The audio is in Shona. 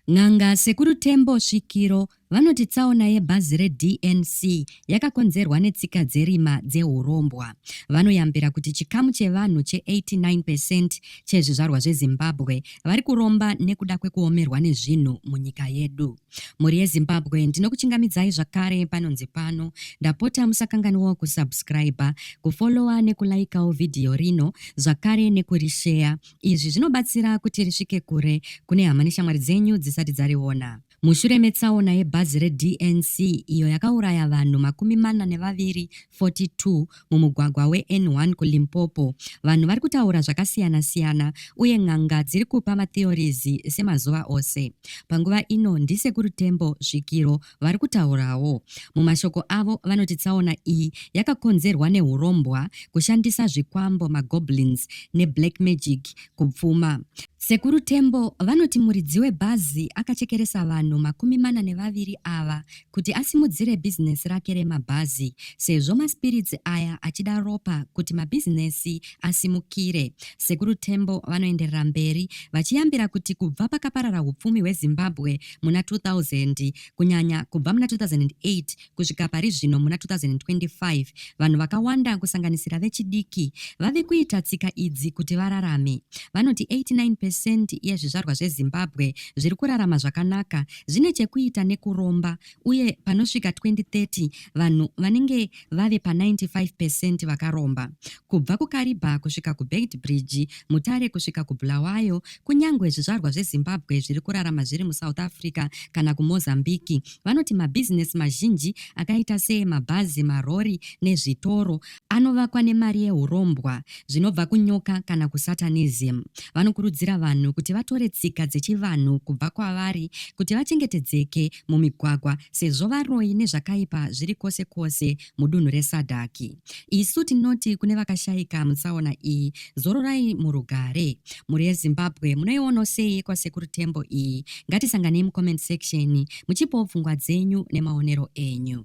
N'anga Sekuru Tembo Svikiro vanoti tsaona yebhazi reDNC yakakonzerwa netsika dzerima dzehurombwa. Vanoyambira kuti chikamu chevanhu che89 percent chezvizvarwa zveZimbabwe vari kuromba nekuda kwekuomerwa nezvinhu munyika yedu. Mhuri yeZimbabwe ndinokuchingamidzai zvakare panonzi pano. Ndapota musakanganwawo kusubscriber, kufollower nekulaikawo vhidhiyo rino zvakare nekurisheya Izvi zvinobatsira kuti risvike kure kune hama neshamwari dzenyu dzisati dzariona. Mushure metsaona yebhazi reDNC iyo yakauraya vanhu makumi mana nevaviri 42 mumugwagwa weN1 kuLimpopo, vanhu vari kutaura zvakasiyana-siyana uye n'anga dziri kupa matheories semazuva ose. Panguva ino ndiSekuru Tembo Svikiro vari kutaurawo. Mumashoko avo vanoti tsaona iyi yakakonzerwa nehurombwa, kushandisa zvikwambo, magoblins neblack magic kupfuma. Sekuru Tembo vanoti muridzi webhazi akachekeresa vanhu makumi mana nevaviri ava kuti asimudzire bhizinesi rake remabhazi sezvo maspiritsi aya achida ropa kuti mabhizinesi asimukire. Sekuru Tembo vanoenderera mberi vachiyambira kuti kubva pakaparara upfumi hweZimbabwe muna 2000 kunyanya kubva muna 2008 kusvika pari zvino muna 2025 vanhu vakawanda kusanganisira vechidiki vave kuita tsika idzi kuti vararame vanoti 89 pecent yezvizvarwa zvezimbabwe zviri kurarama zvakanaka zvine chekuita nekuromba uye panosvika 2030 vanhu vanenge vave pa 95 percent vakaromba. Kubva kuKariba kusvika kuBeitbridge, Mutare kusvika kuBulawayo, kunyangwe zvizvarwa zveZimbabwe zviri kurarama zviri muSouth Africa kana kuMozambique, vanoti mabhizinesi mazhinji akaita seemabhazi, marori nezvitoro anovakwa nemari yehurombwa zvinobva kunyoka kana kusatanism. Vanokurudzira vanhu kuti vatore tsika dzechivanhu kubva kwavari kuti vachengetedzeke mumigwagwa sezvo varoyi nezvakaipa zviri kwose kwose mudunhu resadhaki isu tinoti kune vakashaika mutsaona iyi zororai murugare mhuri yezimbabwe munoiono sei kwasekuru tembo iyi ngatisanganei mucomment section muchipawo pfungwa dzenyu nemaonero enyu